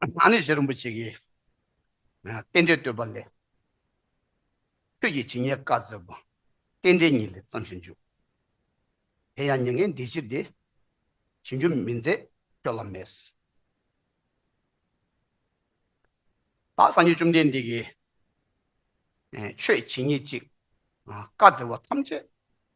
ང་ནི་ཞི་རིན་པོ་ཆེ་ཡི་རྟེན་འབྲེལ་བསྟོད་པ་ལས། ཁྱོད་ཀྱི་ཇི་སྙེད་བཀའ་སྩལ་པ། རྟེན་འབྲེལ་ཉིད་ལས་བརྩམས་ཤིང་འཇུག། དེ་ཡང་ཉེ་ངན་འདི་ཕྱིར་ཏེ། བྱིན་རྒྱུ་མི་མཛད་ཁྱོད་ལ་མེད། བདག་སངས་རྒྱས་བཅོམ་ལྡན་འདས་ཀྱིས། ཆོས་ཇི་སྙེད་ཅིག་བཀའ་སྩལ་བ་ཐམས་ཅད་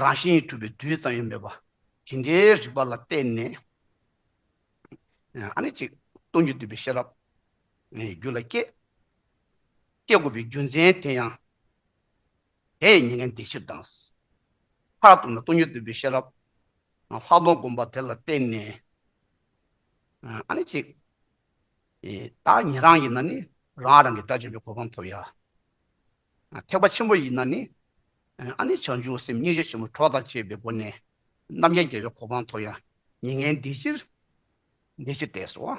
རང་བཞིན་གྲུབ་པའི་རྡུལ་ཙམ་ཡང་མེད་པ་དེ་འདྲའི་རིག་པ་ལ་བརྟེན་ནས་ཨ་ནི་ཅིག་སྟོང་རྒྱུ་འདུས་པའི་ཤེས་རབ་རྒྱུ་ལ་སྐྱེ། སྐྱེ་དགོས་པའི་རྒྱུ་མཚན་དེ་ཡང་དེ་ཡི་མྱི་ངན་འདས་ཕྱིར་དང། མཐར་གཏུགས་ན་སྟོང་རྒྱུ་འདུས་པའི་ཤེས་རབ་ལྷག་མཐོང་བསྒོམ་པ་དེ་ལ་བརྟེན་ནས་ཨ་ནི་ཅིག་བདག་ཉིད་རང་ཡིན་ན་ནི་རང་རང་གི་སྒྲ་བརྗོད་པའི་གོ་འཕང་ཐོབ་ཡ། ཐེག་པ་ཆེན་པོ་ཡིན་ན་ནི། ཨ་ནི་བྱང་ཆུབ་སེམས་སྙིང་རྗེ་ཆེན་པོ་གྲོགས་དང་བཅས་པའི་སྒོ་ནས། རྣམ་མཁྱེན་རྒྱལ་བའི་གོ་འཕང་མཐོ་ཡང་མྱི་ངན་འདི་ཅིར། འདི་ཅི་སྟེ་སོ།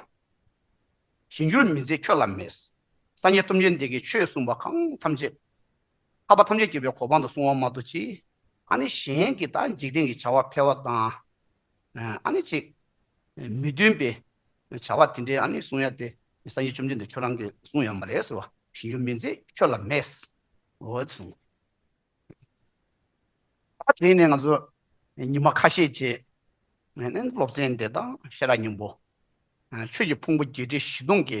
ཞི་འགྱུར་མི་མཛད་ཁྱོད་ལ་མེད། སངས་རྒྱས་ཐུབ་ཆེན་འདས་ཀྱིས་ཆོས་གསུངས་པ་གང་ཐམས་ཅད། འཕགས་པ་ཐམས་ཅད་རྒྱལ་བའི་གོ་འཕང་དུ་སོང་བ་མ་གཏོགས་ཅི། ཨ་ནི་གཞན་གྱི་དང་འཇིག་རྟེན་གྱི་བྱ་བ་འཕེལ་བ་དང། ཨ་ནི་ཅིག། མི་མཐུན་པའི་བྱ་བ་དེ་འདྲའི་ཨ་ནི་གསུང་ཡ་དེ་སངས་རྒྱས་བཅོམ་ལྡན་འདས་ཁྱོད་རང་གིས་གསུང་ཡོད་མ་རེད་ཟེར་བ། ཞིག་ཡོད་མི་མཛད་ཁྱོད་ལ་མེད། འོ་གསུང། ད་དེ་ནས་ང་ཚོ་ཉི་མ་ཁ་ཤས་རྗེས་སློབ་ཚན་འདི་དང་ཤེས་རབ་སྙིང་པོ། ཆོས་ཀྱི་ཕུང་པོ་བརྒྱད་ཁྲི་བཞི་སྟོང་གི་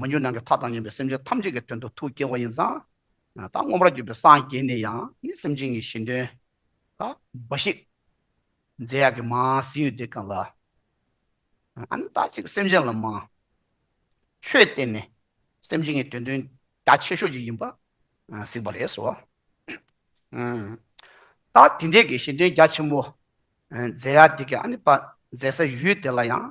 མི་འགྱུར་ནང་གི་མཐའ་དང་ཉམས་པའི་སེམས་ཅན་ཐམས་ཅད་ཀྱི་དོན་དུ་ཐུགས་བསྐྱེད་བ་ཡིན་ཙང། ད་སྔོན་པར་གྱུར་པའི་སངས་རྒྱས་ནས་ཡང་ནི་སེམས་ཅན་གྱི་གཞན་དོན་ལ་འབའ་ཞིག། རྫས་ཡག་གི་མ་ཟིན་ཡོད་དེ་གང་ལ། ཨ་ནི་ད་ཅིག་སེམས་ཅན་ལ་མ། ཆོས་བསྟན་ནས་སེམས་ཅན་གྱི་དོན་དོན་རྒྱ་ཆེ་ཤོས་ཅིག་ཡིན་པར་གཟིགས་པ་རེད་སོ། ད་དེ་འདྲའི་གཞན་དོན་རྒྱ་ཆེན་པོ། རྫས་ཡག་འདི་གའི་ཨ་ནི་པ་མཛད་ས་ཡུལ་དེ་ལ་ཡང།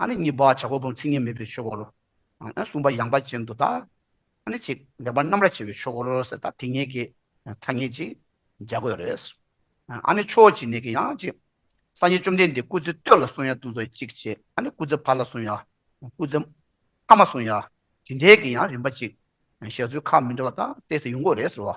ཨ་ནི་གཉིས་པ་བྱ་རྒོད་བུམ་ཚིག་གཉིས་མེད་པའི་ཆོས་འཁོར་ལོ། ཨ་ནི་གསུམ་པ་ཡངས་པ་ཅན་དུ་བལྟ། ཨ་ནི་གཅིག་ལེགས་པར་རྣམ་ར་བྱེད་པའི་ཆོས་འཁོར་ལོ་ཟེར་ད་དེ་གཉིས་ཀྱི་ཐ་སྙད་ཅིག་རྒྱག་དགོས་རེད། ཨ་ནི་ཕྱོགས་ཀྱི་ནས་ཀྱི་ཡང་གཅིག། སངས་རྒྱས་བཅོམ་ལྡན་འདས་སྐུ་ཚེ་སྟོད་ལ་སོང་ཡ་དུ་ཚོ་གཅིག་བྱས་ཨ་ནི་སྐུ་ཚེ་བར་ལ་སོང་ཡ། སྐུ་ཚེ་མཐའ་མ་སོང་ཡ། དེ་འདྲའི་གི་ཡང་རིམ་པ་ཅིག་བཞག་ཚུལ་ཁག་མི་འདྲ་བ་ད་བལྟས་ཚེ་ཡོང་དགོས་རེད་ཟེར་བ།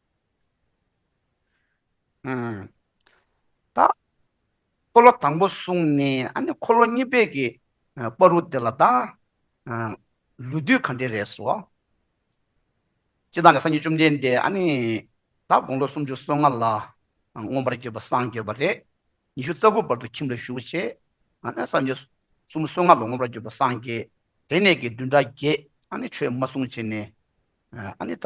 ད་འཁོར་ལོ་དང་པོ་གསུངས་ནས་ཨ་ནི་འཁོར་ལོ་གཉིས་པའི་གི་པ་རུ་དེ་ལ་ད་ལུས་དུས་གང་དྲན་རེད་སོ། ཅི་དང་ལས་སངས་རྒྱས་བཅོམ་ལྡན་འདས་ཨ་ནི་ད་དགུང་ལོ་སུམ་ཅུ་སོ་ལྔ་ལ་མངོན་པར་བརྒྱུད་པ་སངས་རྒྱས་པ་རེད། ཉི་ཤུ་རྩ་དགུ་བར་དུ་ཁྱིམ་ལ་བཞུགས་བྱས། ཨ་ནི་སངས་རྒྱས་སུམ་སོ་ལྔ་ལ་མངོན་པར་བརྒྱུད་པ་སངས་རྒྱས། དེ་ནས་གི་བདུན་ཕྲག་བརྒྱད་ཨ་ནི་ཆོས་མ་གསུངས་བྱས་ནས་ཨ་ནི་ད།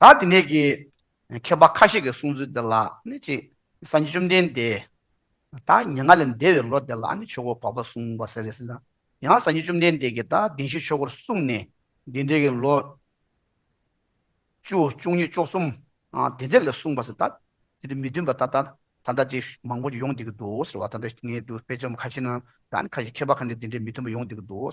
ད་དེ་ནས་ཀྱི་མཁས་པ་ཁ་ཤས་ཀྱི་གསུང་ཚུལ་འདི་ལ་ནི་ཅི། སངས་རྒྱས་བཅོམ་ལྡན་འདས་ད་ཉེ་སྔ་ལས་འདས་པའི་ལོ་དེ་ལ་ནི་ཆོས་འཁོར་བར་པ་གསུངས་པ་ཟེར་བས་ན་ཡང་སངས་རྒྱས་བཅོམ་ལྡན་འདས་ཀྱིས་ད་གདན་བཞི་ཆོས་འཁོར་གསུངས་ནས་འདི་འདྲའི་ཀྱི་ལོ། བཅུ་བཅུ་གཉིས་བཅུ་གསུམ། དེ་འདྲ་ལས་གསུངས་པ་ཟེར་ད་དེ་འདྲ་མི་མཐུན་པ་ད་ལྟ་ད་ལྟ་ཅི་མང་པོ་ཅིག་ཡོང་བསྡད་ཀྱི་འདུག་ཟེར་བ་ད་ལྟ་ངའི་དུ་དཔེ་ཆ་མ་ཁ་ཤས་ནང་ད་ནི་ཁ་ཤས་མཁས་པ་ཁ་ནས་དེ་འདྲའི་མི་མཐུན་པ་ཡོང་བསྡད་ཀྱི་འདུག་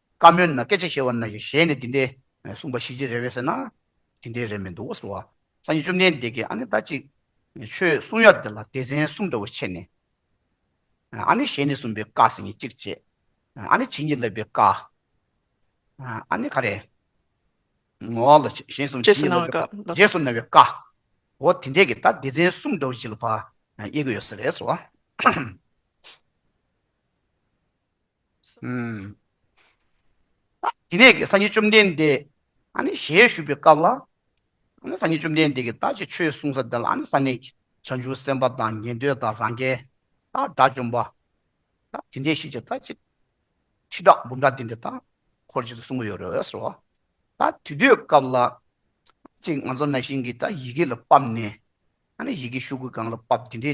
བཀའ་མོལ་ན་སྐད་ཆ་བཤད་བ་ན་ཞིག་གཞན་ནས་འདི་འདྲའི་གསུངས་པ་ཤེས་ཀྱི་རེད་བས་ཟེར་ན། དེ་འདྲའི་རེད་མི་འདུག་ཟེར་བ། སང་ཉིན་བཅོམ་ལྡན་འདས་ཀྱིས་ཨ་ནི་ད་ཅིག། ཆོས་གསུང་ཡ་འདི་ལ་སྡེ་ཚན་གསུམ་འདྲ་བོ་ཕྱེ་ནས། ཨ་ནི་གཞན་ནས་གསུངས་པའི་བཀའ་ཟེར་ནས་གཅིག་བཅད། ཨ་ནི་བྱིན་གྱིས་བརླབས་པའི་བཀའ། ཨ་ནི་ག་རེ། ངོ། གཞན་གསུམ་བྱིན་གྱིས་བརླབས་པའི་བཀའ། རྗེས་སུ་གནང་བའི་བཀའ། འོ་དེ་འདྲས་ཀྱི་ད་སྡེ་ཚན་གསུམ་འདྲ་བོ་ཞིག་ལ་བག་ཡེ་གི་ཡོད་ཟེར་རེད་ཟེར་བ། དེ་ནས་སངས་རྒྱས་བཅོམ་ལྡན་འདས་ཞལ་བཞུགས་པའི་སྐབས་ལ། སངས་རྒྱས་བཅོམ་ལྡན་འདས་ཀྱིས་ད་ཅིའི་ཆོས་གསུངས་ས་འདི་ལ་ས་གནས་ཀྱི་བྱང་ཆུབ་སེམས་དཔའ་དང་ཉན་ཐོས་དང་རང་རྒྱལ་དང་དགྲ་བཅོམ་པ་དེ་འདྲའི་ཤེས་བྱ་ད་ཅི་ཁྲི་ཕྲག་འབུམ་ཕྲག་འདི་འདྲ་དག་འཁོར་བཅས་སུ་གསུངས་པ་ཡོད་རེད་ཟེར་བ། ད་དེ་དུས་སྐབས་ལ་ཅིག་ང་ཚོ་ན་ཞིང་གི་ཡི་གེ་ལ་བབས་ནས་ཡི་གེ་ཤུགས་ཀྱིས་གང་ལ་བབས་དེ་འདྲའི་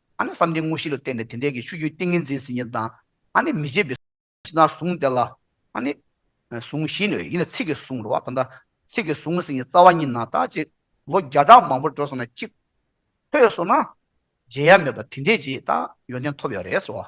ཨ་ནི་བསམ་གཏན་དངོས་གཞི་ལ་བརྟེན་ནས་དེ་འབྲས་ཀྱི་ཆུ་རྒྱུན་ཏིང་ངེ་འཛིན་ཟིན་ཉིད་དང། ཨ་ནི་མི་བརྗེད་པའི། ཅི་དང་གཟུངས་དེ་ལ། ཨ་ནི། གཟུངས་བཞི་ནི་ཡིན་ལ་ཚིག་གི་གཟུངས་རོ། ད་ལྟ། ཚིག་གི་གཟུངས་ཟིན་ཉིད་རྩ་བ་ཉིད་ན་དག་ཅིག། ལོ་བརྒྱ་ཕྲག་མང་པོར་འགྲོ་སོང་ན་གཅིག། ཐོས་སོང་ན། བརྗེད་ཡ་མེད་པར་དེ་འབྲས་ཀྱིས་དག། ཡོན་ཏན་ཐོབ་ཡོད་རེད་ཟེར་བ།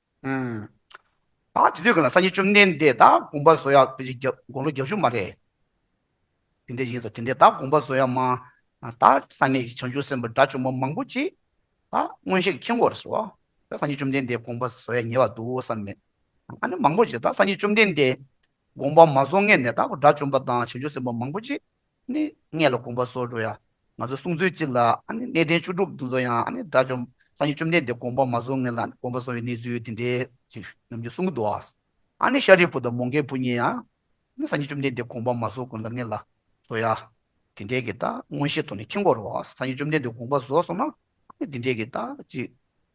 ད་དེ་དུས་ག་ལ་སངས་རྒྱས་བཅོམ་ལྡན་འདས་དང་དགོངས་པ་བཟོ་ཡག་དེ་བཞིན་དགོངས་ལོ་རྒྱ་བཅུ་མ་རེད། དེ་འདྲའི་ཡིན་ཟེར་དེ་འདྲའི་ད་དགོངས་པ་བཟོ་ཡག་མ་ད་སངས་རྒྱས་བྱང་ཆུབ་སེམས་དཔའ་དགྲ་བཅོམ་པོ་མང་པོ་ཅིག་ད་མངོན་ཤེས་ཀྱི་མཁྱེན་གོ་རེ་ཟེར་བ་ད་སངས་རྒྱས་བཅོམ་ལྡན་འདས་དགོངས་པ་བཟོ་ཡག་ཉེ་བར་འདུག་བསམ་མེད་ཨ་ནི་མང་པོ་ཅིག་ད་སངས་རྒྱས་བཅོམ་ལྡན་འདས་དགོངས་པ་མ་བཟོ་ངེས་ནས་ད་དགྲ་བཅོམ་པ་དང་བྱང་ཆུབ་སེམས་དཔའ་མང་པོ་ཅིག་གནས་ལ་དགོངས་པ་སོགས་འགྲོ་ཡང། ང་ཚོའི་གསུང་ཚོད་ཅིག་ལ་གནས་བརྟན་བཅུ་དྲུག་འདི་ཚོ་ཡང་དགྲ་བཅོམ་སངས་རྒྱས་བཅོམ་ལྡན་འདས་དགོངས་པ་མ་བཟོ་ངེས་ལ་དགོངས་པ་བཟོ་བའི་གནས་ཚུལ་དེ་འདྲའི་ཞིག་ནམ་རྒྱུན་གསུང་གི་འདུག་ཨ། ཤཱ་རིའི་བུ་དང་མོ་མཁན་བུ་གཉིས་ཡང་སངས་རྒྱས་བཅོམ་ལྡན་འདས་དགོངས་པ་མ་བཟོ་དགོས་ལ་ངེས་ལ་བཟོ་ཡ། དེ་འདྲའི་གི་ད་མངོན་ཤེས་ཐོག་ནས་ཁྱི་མགོ་རུ་སངས་རྒྱས་བཅོམ་ལྡན་འདས་དགོངས་པ་བཟོ་སོང་ན་འདི་འདྲའི་གི་ད་ཅིག་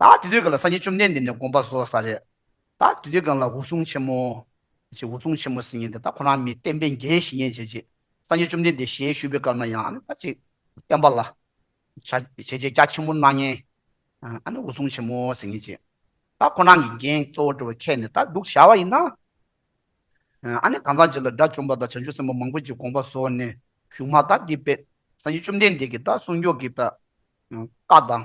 ད་དུས་དུས་གང་ལ་སངས་རྒྱས་བཅོམ་ལྡན་འདས་ནས་དགོངས་པ་བཟོ་ས་རེད། ད་དུས་དུས་གང་ལ་འུ་ཟུང་ཆེན་མོ། ཞེས་འུ་ཟུང་ཆེན་མོ་ཟེར་ངེས་འདི་ད་ཁོ་རང་མི་བསྟན་པའི་འགན་བཞེས་ངེས་བྱས་རྗེས་སངས་རྒྱས་བཅོམ་ལྡན་འདས་ཞལ་བཞུགས་པའི་སྐབས་ན་ཡང་ཨ་ནི་ད་ཅིག་བསྟན་པ་ལ། བྱ་བྱས་རྗེས་སྐྱ་ཆེན་པོ་སྣ་ལྔའི། ཨ་ནི་འུ་ཟུང་ཆེན་མོ་ཟེར་ངེས་རྗེས། ད་ཁོ་རང་གི་འགན་གཙོ་བོ་འགྲོ་བའི་ཁྱད་ནི་ད་འདུག་བྱ་བ་ཡིན་ན། ཨ་ནི་གང་ཟག་གཅིག་ལ་དགྲ་བཅོམ་པ་དང་བྱང་ཆུབ་སེམས་དཔའ་མང་པོ་ཅིག་དགོངས་པ་བཟོ་ནས་བཞུགས་མ་ད་འདི་པས་སངས་རྒྱས་བཅོམ་ལྡན་འདས་ཀྱིས་ད་གསུང་མགྱོགས་ཀྱིས་ད་བཀའ་དང།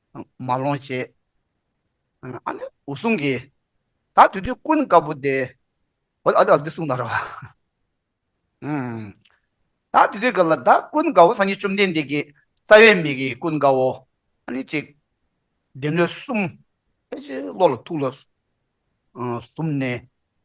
མ་ལོངས་ཞེས། ཨ་ནི་འུ་གསུང་གི། ད་དུས་དུས་ཀུན་དཀར་པོ་དེ། འོ་ཨ་ཨ་འདི་གསུང་ད་རོ། ད་དུས་དུས་ག་ལ་ད་ཀུན་དཀར་བོ་སངས་རྒྱས་བཅོམ་ལྡན་འདས་ཀྱི་རྩ་བའི་མིག་གིས་ཀུན་དཀར་བོ། ཨ་ནི་གཅིག། བདེན་ལུས་གསུམ། ཕལ་ཆེར་བློ་ལ་ཐུགས་ལ། གསུམ་ནི།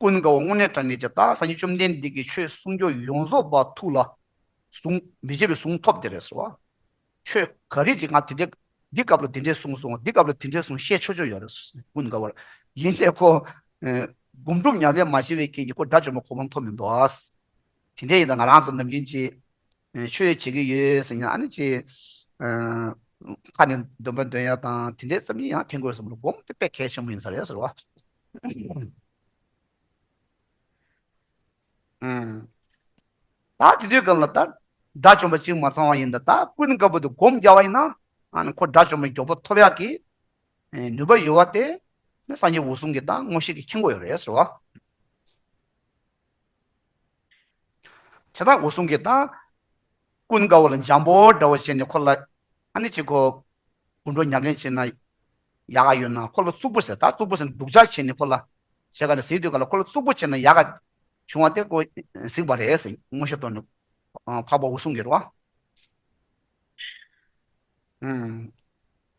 ཀུན་དགའ་བོ་སྔོན་གནས་དྲང་ངེས་ཀྱི་བདག་སངས་རྒྱས་བཅོམ་ལྡན་འདས་ཀྱི་ཆོས་གསུང་སྐྱོང་ཡོངས་རྫོགས་པ་ཐུགས་ལ་ཟུངས། མི་བརྗེད་པའི་གཟུངས་ཐོབ་དེ་རེད་ཟེར་བ། ཆོས་ག་རེ་རེད་ང་དེ་འདྲའི་འདི་སྐབས་ལ་དེ་འདྲའི་གསུངས་སོང་འདི་སྐབས་ལ་དེ་འདྲའི་གསུངས་བཤད་ཆོག་ཆོག་ཡོད་རེད་ཟེར་ཀུན་དགའ་བོར། ཡིན་ལས་ཁོ། སྒོམ་སྒྲུབ་ཉམས་ལེན་མ་བྱས་པའི་རྐྱེན་གྱིས་ཁོ་དགྲ་བཅོམ་པ་གོ་བ་མཐོང་མི་འདུག། དེ་འདྲས་ཡིན་ན་ང་རང་ཚོ་ནམ་རྒྱུན་གྱི། ཆོས་བྱེད་ཀྱི་ཡོད་ཟེར་ཡང་ཨ་ནི་ཆེ། ཁ་ནས་འདོན་པ་འདོན་ཡག་དང་དེ་འདྲའི་བསམ་ཡིག་ཡང་འཕེན་དགོས་བསམ་བློ་སྒོམ་དེ་དཔེ་གལ་ཆེན་པོ་ཡིན་ས་རེད་ཟེར་བ། ཨང། ད་དེ་དུས་སྐབས་ལ་ད་དགྲ་བཅོམ་པ་གཅིག་མ་ཚང་བ་ཡིན་ད་ད་ཀུན་དགའ་བོ་དེ་སྒོམ་རྒྱག་བ་ཡིན་ན་ཨ་ནི་ཁོ་དགྲ་བཅོམ་པའི་མགྱོགས་པོ་ཐོབ་ཡག་གི་ནུས་པ་ཡོད་བ་དེ་སངས་རྒྱས་འོད་སྲུང་གི་ད་མངོན་ཤེས་ཀྱི་ཁྱིམ་སྒོ་ཡོད་རེད་ཟེར་བ། བྱ་དང་འོད་སྲུང་གིས་དང། ཀུན་དགའ་བོ་ལ་འཇམ་པོ་འདྲ་བོ་བྱས་ནས་ཁོ་ལ། ཨ་ནི་ཅི་ཁོ། དགུན་གྲོ་ཉག་ལེན་བྱེད་ན། ཡག་ག་ཡོད་ན་ཁོ་ལ་གཙུག་པོ་ཟེར་ད་གཙུག་པོ་ཟེར་ནས་སྡུག་ཅག་བྱས་ནས་ཁོ་ལ། བྱས་ག་ནས་ཟིག་དུས་ག་ལ་ཁོ་ལ་གཙུག་པོ་བྱས་ན་ཡག་ག། བྱུང་བ་དེ་ཁོ། ཟིག་པ་རེད་ཟེར་དངོས་གཞི་བཏོན་ནས། འཕགས་པ་འོད་སྲུང་གིས་རོ།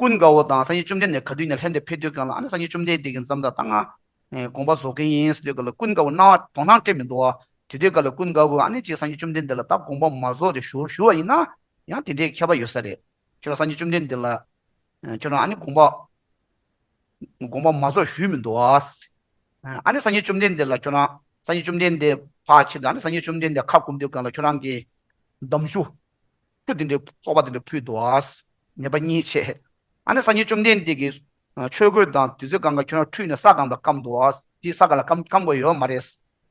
ཀུན་དགའ་བོ་དང་སངས་རྒྱས་བཅོམ་ལྡན་འདས་ག་དུས་ནས་ལྷན་དུ་ཕེབས་འདོད་གང་ལ་ཨ་ནི་སངས་རྒྱས་བཅོམ་ལྡན་འདས་ཀྱིས་མཚམས་དང་སྔགས་དགོངས་པ་བཟོ་མཁན་ཡིན་ཟེར་འདོད་ག་ལ་ཀུན་དགའ་བོ་སྣང་བ་དོང་སྣང་སྤྲད་མི་འདུག་ཨ། དེ་འདོད་ག་ལ་ཀུན་དགའ་བོས་ཨ་ནི་ཅིག་སངས་རྒྱས་བཅོམ་ལྡན་འདས་ལ་བདག་དགོངས་པ་མ་བཟོ་རེ་ཞུ་ཞུ་བ་ཡིན་ན། ཡང་དེ་འདྲའི་ཁྱད་པར་ཡོད་ས་རེད། ཁྱོད་རང་སངས་རྒྱས་བཅོམ་ལྡན་འདས་ལ། ཁྱོད་རང་ཨ་ནི་དགོངས་པ། དགོངས་པ་མ་བཟོ་ཞུས་མི་འདུག་ཨ། ཨ་ནི་སངས་རྒྱས་བཅོམ་ལྡན་འདས་ལ་ཁྱོད་རང་སངས་རྒྱས་བཅོམ་ལྡན་འདས་འཕགས་ཆེན་དུ་ཨ་ནི་སངས་རྒྱས་བཅོམ་ལྡན་འདས་ཁ་བསྐུམ་འདོད་གང་ལ་ཁྱོད་རང་གིས། འདམ་ཞུ། སྐུ་དེ་འདྲའི་སྤོབས་པ་དེ་འདྲ་ཕུལ་དུ་འོང་བ་ངེས་པ་གཉིས་ཆེ། ཨ་ནེ་སངས་རྒྱས་བཅོམ་ལྡན་འདས་ཀྱིས། ཆོས་གོས་དང་དུས་ཚོད་གང་ག་ཁྱོད་རང་ཁྲུས་ནས་ས་གང་དུ་བསྐམས་འདུག་ཨ། དེ་ས་ག་ལ་བསྐམས་བསྐམས་དགོས་ཡོད་མ་རེད།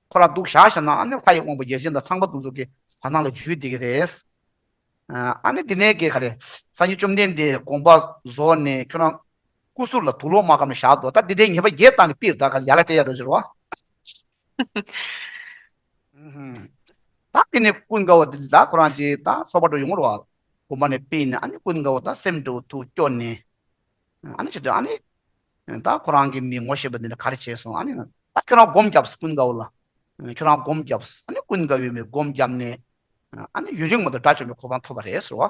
ཁོ་རང་འདུག་བཞག་བཞག་ན་ཨ་ནེ་ལྷ་ཡི་དབང་པོ་རྒྱལ་ཆེན་དང་ཚངས་པ་འདུ་འཛོམས་ཀྱི་བར་སྣང་ལ་འཇུས་བསྡད་ཀྱི་རེད། ཨ་ནེ་དེ་ནས་ཀྱི་ག་རེད། སངས་རྒྱས་བཅོམ་ལྡན་འདས་དགོངས་པ་རྫོགས་ནས་ཁྱོད་རང། སྐུ་གཟུགས་ལ་དུག་ལོག་མ་བསྐམས་ནས་བཞག་འདུག་ད་དེ་འདྲའི་ངེས་པ་བརྒྱད་བཏང་ནས་པིར་དག་ག་ལ་ཡར་ལ་སྤྲད་ཡག་རེད་ཟེར་རོ། ད་གིན་ནས་ཀུན་དགའ་བོ་འདི་ལ་ཁོ་རང་ཅི་ད་སོག་པ་དུ་ཡོང་བར་བ་བུམ་པ་ནས་སྤེལ་ནས་ཨ་ནི་ཀུན་དགའ་བོ་ད་སེམས་དུ་དུ་སྐྱོ་ནས་ཨ་ནི་ཅི་དུ་ཨ་ནི་ད་ཁོ་རང་གིས་མི་ངོ་ཤེས་པ་འདི་ནས་ག་རེ་བྱས་སོང་ཨ་ནི་ད་ཁྱོད་རང་སྒོམ་བརྒྱབས་ཀུན་དགའ་བོ་ལ་ཁྱོད་རང་སྒོམ་བརྒྱབས་ཨ་ནི་ཀུན་དགའ་བོས་མི་སྒོམ་བརྒྱབས་ནས་ཨ་ནི་ཡུན་རིང་མ་དུ་དགྲ་བཅོམ་པའི་གོ་འཕང་ཐོབ་པ་རེད་ཟེར་བ།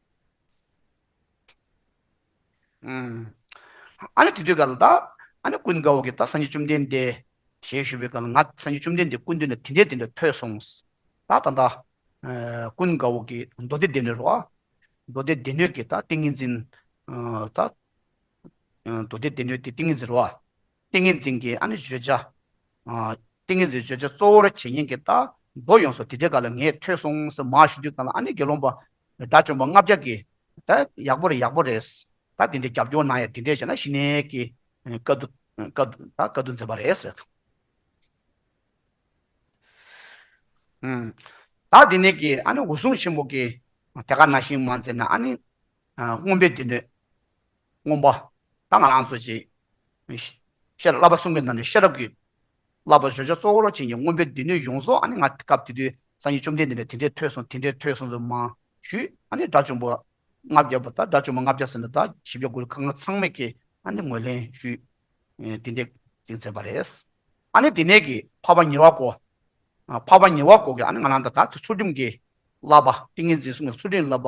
ཨཱ་ནི་དེ་དུས་གལ་ཏེ། ཨཱ་ནི་ཀུན་དགའ་བོ་ཀྱེ་ད་སངས་རྒྱས་བཅོམ་ལྡན་འདས། ཞེས་ཞུས་པའི་སྐབས་ལ་ང་སངས་རྒྱས་བཅོམ་ལྡན་འདས་ཀུན་འདུས་ན་དེ་འདྲའི་དེ་འདྲ་ཐོས་སོང། ད་ད་ད། ཀུན་དགའ་བོ་ཀྱེ་མདོ་སྡེ་སྡེ་སྣོད་རོ། མདོ་སྡེ་སྡེ་སྣོད་ཀྱི་ད་ཏིང་ངེ་འཛིན། མདོ་སྡེ་སྡེ་སྣོད་ཀྱི་ཏིང་ངེ་འཛིན་རོ། ཏིང་ངེ་འཛིན་གྱི་ཨ་ནི་བརྗོད་བྱ། ཏིང་ངེ་འཛིན་བརྗོད་བྱ་གཙོ་བོར་བྱས་ཉན་གྱི་རྟགས་མདོ་ཡོངས་སུ་དྲི་བྲལ་ག་ལ་ངས་ཐོས་སོང་ཟེར་མ་ཞུ་རྒྱུ་དང་ལ་ཨ་ནི་དགེ་སློང་པ། དགྲ་བཅོམ་པ་ལྔ་བརྒྱ་གིས། ད་ཡག་པོ་རེད་ཡག་པོ་རེད། ད་དེ་འདྲའི་རྒྱབ་སྐྱོར་གནང་ཡ་དེ་འདྲས་བྱས་ན་ཞི་གནས་ཀྱི་བཀའ་བསྡུ། བཀའ་བསྡུ་ད་བཀའ་བསྡུ་མཛད་པ་རེད་ཟེར། བདག་དེ་ནས་ཀྱི་ཨ་ནི་འོད་སྲུང་ཆེན་པོ་ཀྱིས་དེ་ག་ན་ཞིང་མ་མཛད་ན་ཨ་ནི། རྔོན་པའི་སྡེ་སྣོད། སྔོན་པོ་དང་ང་རང་ཚོ་བྱིངས་ཤར་བསླབ་པ་གསུམ་གྱི་ནང་ནས་ཤེས་རབ་ཀྱི་བསླབ་པ་བཞོ་བྱ་གཙོ་བོར་བྱིངས་ཀྱི་སྔོན་པོའི་སྡེ་སྣོད་ཡོངས་རྫོགས་ཨ་ནི་ང་སྐབས་དེ་དུས་སངས་རྒྱས་བཅོམ་ལྡན་འདས་ནས་དེ་འདྲས་ཐོས་སོང་དེ་འདྲས་ཐོས་སོང་ཚུལ་མང་ཞུས་ཨ་ནི་དགྲ་བཅོམ་པོ་ལྔ་བརྒྱ་པོ་དང་དགྲ་བཅོམ་པོ་ལྔ་བརྒྱ་ཟེར་ན་དག་བཞི་བརྒྱ་དགུ་བརྒྱ་ཚང་མས་ཀྱིས་ཨ་ནི་ངོས་ལེན་ཞུས་དེ་འདྲས་བྱིངས་ཚར་བ་རེད། ཨ་ནི་དེ་ནས་ཀྱི་འཕགས་པ་ཉེ་བར་སྒོ་འཕགས་པ་ཉེ་བར་སྒོ་ཀྱི་ཨ་ནི་ང་རང་དང་དག་ཚོས་ཚུལ་ཁྲིམས་ཀྱི་བསླབ་པ་ཏིང་ངེ་འཛིན་གསུམ་གྱི་ཚུལ་ཁྲིམས་བསླབ་པ་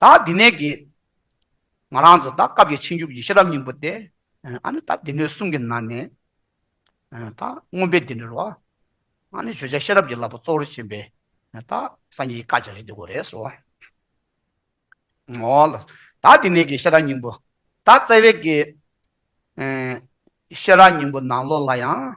ད་དེ་ནས་ཀྱི། ང་རང་ཚོ་ད་སྐབས་ཀྱི་ཕྱིན་བཅུ་གྱི་ཤེས་རབ་སྙིང་པོ་སྟེ། ཨ་ནི་ད་སྡེ་སྣོད་གསུམ་གྱི་ནང་ནས། ད་སྔོན་པའི་སྡེ་སྣོད་རུ། ཨ་ནི་བརྗོད་བྱ་ཤེས་རབ་ཀྱི་བསླབ་པ་གཙོ་བོར་བྱེད་པའི། ད་སངས་རྒྱས་ཀྱི་བཀའ་རྒྱ་རེད་འདི་གོ་རེ་སོ། ངོ། ད་དེ་ནས་ཀྱི་ཤེས་རབ་སྙིང་པོ། ད་བཙལ་བས་ཀྱི། ཤེས་རབ་སྙིང་པོ་ནང་ལོགས་ལ་ཡང།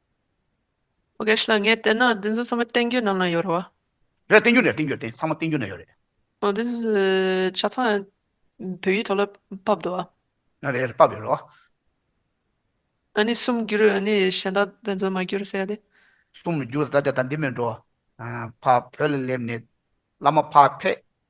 ཨོ་གེ་ཤི་ལ་ངས་བལྟས་ན་བདུན་བཟོ་ཚང་མ་བསྟན་འགྱུར་རྣམས་ལ་ཡོད་རེད་བ། རེད་བསྟན་འགྱུར་རེད་བསྟན་འགྱུར་བསྟན་ཚང་མ་བསྟན་འགྱུར་ན་ཡོད་རེད། ཨོ་བདུན་བཟོ་ཆ་ཚང་བོད་ཡིག་ཐོག་ལ་ཕབ་འདུག་བ། རེད་རེད་ཕབ་ཡོད་རེད་བ། ཨ་ནི་གསུམ་འགྱུར་ཨ་ནི་གཞན་དག་བདུན་བཟོ་མ་འགྱུར་ཟེར་ཡ་དེ། གསུམ་འགྱུར་ཟེར་ད་ལྟ་འདི་མིན་འགྲོ། ཕ་བོད་ལ་སླེབས་ནས་བླ་མ་ཕ་ཕས།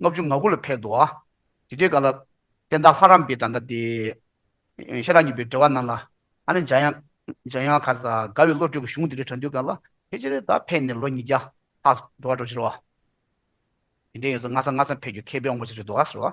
ལྔ་བཅུ་ང་དགུ་ལ་ཕེབས་འདུག་ཨ། དེ་དུས་ག་ལ། བསྟན་བདག་ལྷ་རམས་པའི་ད་ལྟ་དེ། ཤེས་རབ་ཉི་པའི་འགྲེལ་བ་རྣམས་ལ། ཨ་ནི་འཇམ་དབྱངས་ག། དགའ་བའི་བློ་གྲོས་ཀྱི་གཞུང་འདི་རིགས་དྲངས་དུས་ག་ལ། ཕལ་ཆེར་ད་ཕེབས་ནས་ལོ་ཉིས་བརྒྱ། ལྷག། འགྲོ་བ་འགྲོ་ཕྱིར་བ། དེ་འདྲའི་ཡོད་ཚད་སྔ་ས་སྔ་ས་ཕེབས་རྒྱུ་མཁས་པའི་དབང་པོ་ཞིག་རེད་འདུག་ཨ་ཟེར་བ།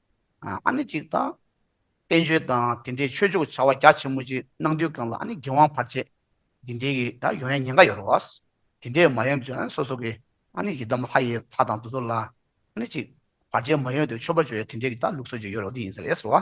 ཨ་ནི་གཅིག་དང། བསྟན་བཅོས་དང་དེ་འདྲའི་ཆོས་ཕྱོགས་ཀྱི་བྱ་བ་རྒྱ་ཆེན་མོ་ཅིག་གནང་དུས་གང་ལ་ཨ་ནི་རྒྱལ་དབང་བར་ཆད་འདི་འདྲའི་གི་ད་ཡོང་ཡ་ཉེན་ཁ་ཡོད་རོ། དེ་འདྲའི་མ་ཡོང་དུས་ཨ་ནི་སོ་སོ་གི་ཨ་ནི་ཡི་དམ་ལྷ་ཡི་ལྷ་དང་དུ་ཟོ་ལ་ཨ་ནི་གཅིག་བར་ཆད་མ་ཡོང་དུས་ཆོས་པ་ཆོས་ཡ་དེ་འདྲའི་གི་ད་ལུགས་སྲོལ་ཅིག་ཡོད་རོ་འདི་ཡིན་ཟེར་ཡས་སོ།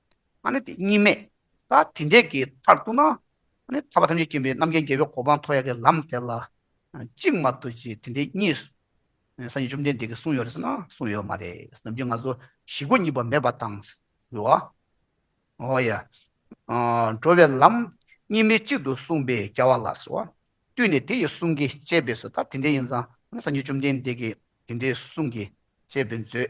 ཨ་ནི་དེ་གཉིས་མེད། ད་དེ་འདྲས་ཀྱི་མཐར་གཏུགས་ན། ཨ་ནི་ཐར་པ་ཐམས་ཅད་མཁྱེན་པའི་རྣམ་མཁྱེན་རྒྱལ་པོའི་གོ་འཕང་མཐོ་ཡ་གི་ལམ་དེ་ལ། གཅིག་མ་གཏོགས་ཀྱི་དེ་འདྲས་གཉིས། སངས་རྒྱས་བཅོམ་ལྡན་འདས་ཀྱིས་གསུངས་ཡོད་རེད་ཟེར་ན་གསུངས་ཡོད་མ་རེད། ནམ་རྒྱུན་ང་ཚོ་ཞི་རྒོལ་གཉིས་པ་མེད་པ་དང། འགྲོ་བ། ཨོ་ཡ། འགྲོ་བའི་ལམ། གཉིས་མེད་གཅིག་ཏུ་གསུངས་པའི་རྒྱལ་བ་ལ་ཟེར་བ། བཏུས་ནས་དེ་ཡི་གསུང་གིས་དཔྱད་པས་སོ་ད་དེ་འདྲས་ཡིན་ཙང་ཨ་ནི་སངས་རྒྱས་བཅོམ་ལྡན་འདས་ཀྱིས་དེ་འདྲའི་གསུང་གིས་དཔྱད་པས་མཛོད།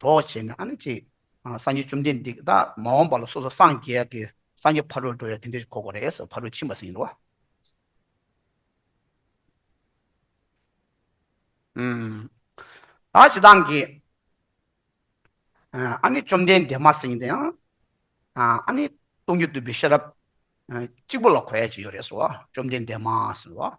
གྲོགས་བྱས་ནས་ཨ་ནི་ཅིག། སངས་རྒྱས་བཅོམ་ལྡན་འདས་ཀྱི་བདག་མ་འོངས་པ་ལ་སོ་སོ་སངས་རྒྱས་ཀྱི་སངས་རྒྱས་ཕ་རོལ་འགྲོ་བའི་དོན་དེ་གོ་གོ་རེ་ཟེར་ཕ་རོལ་ཕྱིན་པ་ཟིན་ཡིན་ནོ། བདག་ཅི་དང་གི། ཨ་ནི་བཅོམ་ལྡན་འདས་མ་སྲིང་དང་ཡང། ཨ་ནི་སྟོང་ཉིད་བསྡུས་པའི་ཤེས་རབ། གཅིག་པུ་ལ་གོ་ཡ་ཅི་ཡོད་རེ་ཟེར་བ་བཅོམ་ལྡན་འདས་མ་ཟེར་བ།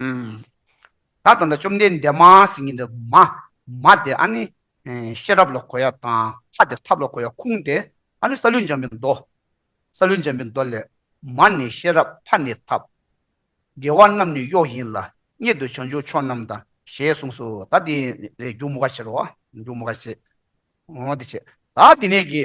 ད་ད་ད་བཅོམ་ལྡན་འདས་མ་ཟེར་གྱིན་འདུག་མ། མ་དེ་ཨ་ནི། ཤེས་རབ་ལ་གོ་ཡ་དང་ཁ་དེ་ཐབས་ལ་གོ་ཡ་ཁུངས་དེ་ཨ་ནི་ས་ལུས་འཇམ་པའི་མདོ། ས་ལུས་འཇམ་པའི་མདོ་ལས། མ་ནི་ཤེས་རབ་ཕ་ནི་ཐབས། དགེ་བ་རྣམས་ནི་གཡོག་ཡིན་ལ་གཉིད་དུ་བྱང་ཆུབ་མཆོག་རྣམས་དང་ཞེས་གསུངས་སོ་ད་དེ་རེ་སྒྱུག་མོ་ཁ་བྱེད་རོགས། སྒྱུག་མོ་ཁ་བྱེད། འོ་དེ་བྱེད། ད་དེ་ནས་ཀྱི།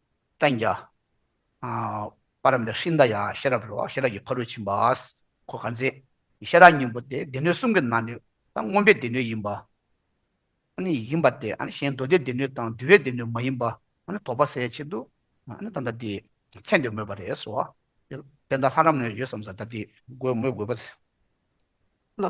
བསྟན་བྱ། པ་རམ་འདེགས་ཤིང་མདའ་ཡང་ཤེས་རབ་རོ། ཤེས་རབ་ཀྱི་ཕ་རོལ་ཕྱིན་པ། གོ་ག་མཛེས། ཤེས་རབ་སྙིང་པོ་སྟེ་སྡེ་སྣོད་གསུམ་གྱི་ནང་ནས་ད་སྔོན་པའི་སྡེ་སྣོད་ཡིན་པ། ཡིན་པ་སྟེ་གཞན་མདོ་སྡེའི་སྡེ་སྣོད་དང་འདུལ་བའི་སྡེ་སྣོད་མ་ཡིན་པ། དོགས་པ་སེལ་བའི་ཆེད་དུ། ད་ལྟ་དེ་མཚན་དེ་མོས་པ་རེད་སོ། དེ་ལྟར་ལྷ་རམ་ནོན་ཡོད་བསམ་ས་ད་དེ། མོས་དགོས་པ། ལོ།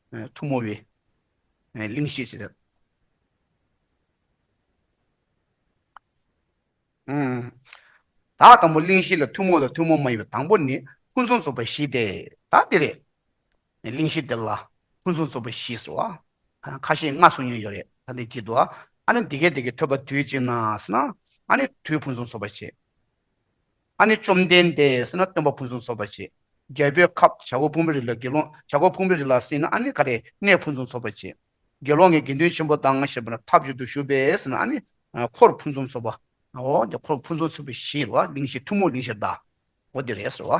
ཐུགས་མོ་བའི་གླིང་བཤད་ཅེས་བྱ། དག་དང་པོ་གླིང་བཞི་ལ་ཐུགས་མོ་དང་ཐུགས་མོ་མ་ཡིན་པའི་དང་པོ་ནི་ཕུན་སུམ་ཚོགས་པ་བཞི་སྟེ་དག་འདི་རེད། གླིང་བཞི་འདི་ལ་ཕུན་སུམ་ཚོགས་པ་བཞི་ཟེར་བ། ཁ་ཞེ་ལྔ་གསུངས་མྱོང་ཡོད་རེད་ད་འདི་བགྱིད་དོ། ཨ་ནི་འདི་སྐད་འདི་སྐད་ཐོས་པ་དུས་གཅིག་ན་ཟེར་ན། ཨ་ནི་དུས་ཕུན་སུམ་ཚོགས་པ་བྱེད། ཨ་ནི་བཅོམ་ལྡན་འདས་ཟེར་ན་སྟོན་པ་ཕུན་སུམ་ཚོགས་པ་བྱེད། རྒྱལ་པོའི་ཁབ་བྱ་སྒོ་སྤུངས་པའི་རི་ལ་དགེ་སློང་བྱ་སྒོ་སྤུངས་པའི་རི་ལ་ཟིན་ན་ཨ་ནི་ག་རེ་གནས་ཕུན་སུམ་ཚོགས་པ་བྱེད། དགེ་སློང་གི་དགེ་འདུན་ཆེན་པོ་དང་ཞེས་པ་ན་ཐབས་བྱུས་དུ་བཞུགས་པས་ཟེར་ན་ཨ་ནི་འཁོར་ཕུན་སུམ་ཚོགས་པའོ། འདི་འཁོར་ཕུན་སུམ་ཚོགས་པའི་གཞི་ལ་གླིང་བཞི་ཐུན་མོང་གླིང་བཞིར་གདའོ། འདི་རེད་ཟེར་བ།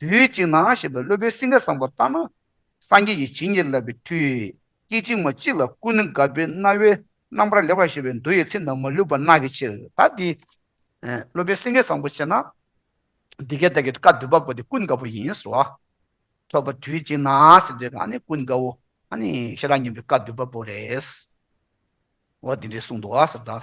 དུས་གཅིག་ན་ཞེས་པའི་སློབ་དཔོན་སིང་ག་སངས་པོ་ལྟར་ན། སངས་རྒྱས་ཀྱི་བྱིན་གྱིས་བརླབས་པའི་མཐུས། སྐད་ཅིག་མ་གཅིག་ལ་ཀུན་ནི་དགའ་བའི་རྣ་བའི་རྣམ་པར་ལེགས་པར་ཤེས་པའི་མདོ་ཡི་ཚིག་རྣམས་མ་ལུས་པར་གནག་གི་ཕྱིར་ད་འདི། སློབ་དཔོན་སེང་གེ་བཟང་པོ་ཅེ་ན། འདི་སྐད་བདག་གིས་བཀའ་བསྡུས་པ་པོ་དེ་ཀུན་དགའ་བོ་ཡིན་ཟེར་བ། ཐོས་པ་དུས་གཅིག་ན་ཟེར་དུས་གང་ནི་ཀུན་དགའ་བོ། ཤེས་རབ་སྙན་པའི་བཀའ་བསྡུས་པ་པོ་རེད། འོ་དེ་འདྲའི་གསུངས་འདུག་ཟེར་ད།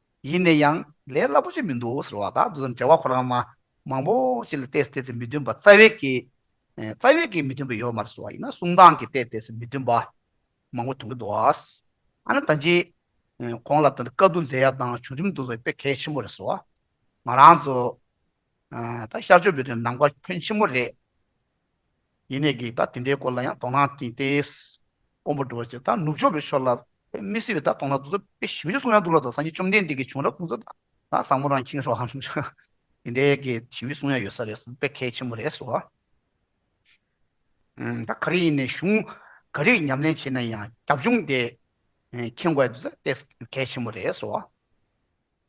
ཡིན་ནས་ཡང་ལས་སླ་པོ་ཅིག་མི་འདུག་ཟེར་བ་དང་འདི་ཙམ་བྲེལ་བ་ཁོ་རང་མ་མང་པོ་ཞིག་ལ་བལྟས་སུ་བལྟས་ཚེ་མི་མཐུན་པ་རྩ་བའི་གེ། རྩ་བའི་གེ་མི་མཐུན་པ་ཡོད་མ་རེད་ཟེར་བ་ཡིན་ན་གསུང་སྟངས་ཀྱིས་བལྟས་བལྟས་སུ་མི་མཐུན་པ་མང་པོ་མཐོང་གི་འདུག་ཨ་ན་ད་རྗེས་ཁོང་ལ་ད་དཀའ་སྡུག་མཛད་ཡག་དང་བྱུང་རིམ་འདུག་ཟེར་བ་དཔེ་གལ་ཆེན་པོ་རེད་ཟེར་བ། ང་རང་ཚོ་ད་ཤར་ཕྱོགས་འབོད་དོན་ནམ་མཁའ་ཕོན་ཆེན་པོ་རེད། ཡེ་ནས་ཀྱིས་ད་དེ་འདྲའི་སྐོར་ལ་ཡང་དོ་སྣང་བསྟན་ཏེ། དཀོན་པོ་འགྲོ་བ་ཅེས་ད་ནུབ་ཕྱོགས་ཀྱི་ཕྱོགས་ལ་ཕེབས་མི་སྲིད་པས་ད་དོང་ལ་འདུག་ས་དཔེ་ཞིབ་འཇུག་གསུང་ཡང་འདུག་ལ་ད་སངས་རྒྱས་བཅོམ་ལྡན་འདས་ཀྱི་བྱུང་རབས་སྐུ་འཚོ་དང་ད་བཟང་མོ་རང་ཁྱིམ་རོའམ། དེ་འདྲའི་ཀྱི་ཞིབ་འཇུག་གསུང་ཡང་ཡོད་ས་རེད་བསམ་པས་གལ་ཆེན་པོ་རེད་བཟོ། ད་ག་རེ་ཡིན་ནས་གཞུང་ག་རེ་ཉམས་ལེན་བྱས་ན་ཡང་རྒྱབ་ལྗོངས་དེ་མཁྱེན་དགོས་ས་དཔེ་གལ་ཆེན་པོ་རེད་བཟོ།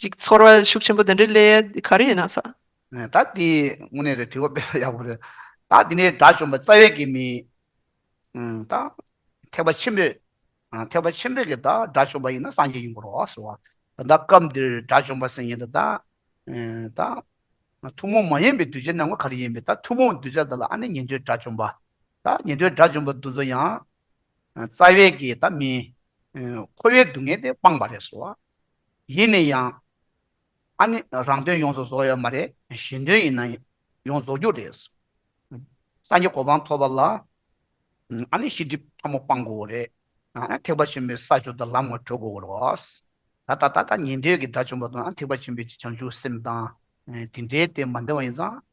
ཅིག་ཚོར་བ་ཤུགས་ཆེན་པོ་འདི་འདྲའི་ཀླད་ཡད་ག་རེ་ཡིན་ན་ཟ། ད་དེ་དངོས་གནས་རེད་དྲི་བ་སྤེལ་བར་ཡག་པོ་རེད། ད་དེ་ནས་དགྲ་བཅོམ་པ་རྩ་བའི་དགེ་མིན། ད་ཐེག་པ་ཆེན་པོས་ཐེག་པ་ཆེན་པོས་ཀྱི་ད་དགྲ་བཅོམ་པ་ཡིན་ན་སངས་རྒྱས་ཡིན་དགོས་རོགས་ཟེར་བ། ད་ལྟ་སྐབས་འདིར་དགྲ་བཅོམ་པ་ཟེར་ཉེན་ད། ད་ཐུན་མོང་མ་ཡིན་པའི་གདུལ་བྱའི་ནང་ངོ་ག་རེ་ཡིན་པས་ད་ཐུན་མོང་གདུལ་བྱ་དག་ལ་ཨ་ནི་ཉན་ཐོས་དགྲ་བཅོམ་པ། ད་ཉན་ཐོས་དགྲ་བཅོམ་པ་འདུ་འཛོ་ཡང། རྩ་བའི་དགེ་ད་མིན། འཁོར་བའི་སྡུག་བསྔལ་དེ་སྤངས་པ་རེད་ཟེར་བ། ཡིན་ནས་ཡང། ཨ་ནི་རང་དོན་ཡོངས་སུ་རྫོགས་ཡོད་མ་རེད་གཞན་དོན་ཡིན་ན་ཡོངས་རྫོགས་རྒྱུ་རེད། སངས་རྒྱས་གོ་འཕང་ཐོབ་པ་ལ་ཨ་ནི་ཤེས་སྒྲིབ་ཕྲ་མོ་སྤང་དགོས་རེད། ཐེག་པ་ཆེན་པོའི་ས་ཕྱོགས་དང་ལམ་ངོ་འཕྲོད་དགོས་རེད། ད་ལྟ་ད་ལྟ་ཉན་ཐོས་ཀྱི་དགྲ་བཅོམ་པ་དང་ཐེག་པ་ཆེན་པོའི་བྱང་ཆུབ་སེམས་དང་དེ་འདྲའི་སྟེང་མ་འདྲེས་པ་ཡིན་ཙང།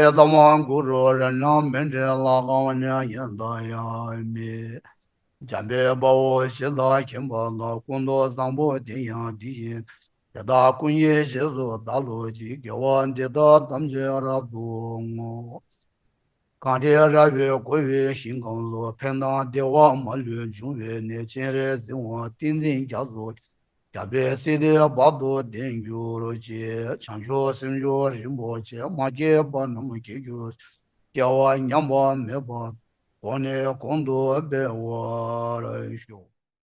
ཨེ་དམ་དབང་གུ་རུ་རེ་རྣམས་མི་འབྲལ་ལ་གང་ཉན་ཡིན་དང་ཡང་མེད། འཇམ་པའི་དཔའ་བོ་གཞི་བདག་མཁྱེན་པ་དང་སྐུ་མདོག་བཟང་པོ་དེ་ཡང་འདི་ཡིན། དེ་དག་ཀུན་ཡེ་ཤེས་སུ་བདག་ལུས་ཀྱི་དགེ་བ་འདི་དག་ཐམས་ཅད་རབ་ཏུ་བསྔོ། གང་དེ་རལ་བའི་གོ་བའི་ཞིང་གང་ལུགས་ཕན་དང་བདེ་བ་མ་ལུས་འབྱུང་བའི་གནས་སྤྱན་རས་གཟིགས་དབང་ཏིང་འཛིན་རྒྱ་མཚོ། རྒྱ་བལ་སྲིད་སྡེ་བར་དུ་བདེ་འགྱུར་གྱི་བྱང་ཆུབ་སེམས་མཆོག་རིན་པོ་ཆེ་མ་སྐྱེས་པ་རྣམས་སྐྱེ་རྒྱུ་སྐྱེ་བ་ཉམས་པ་མེད་པར་གོང་ནས་གོང་དུ་སྤེལ་བར་ཞུ།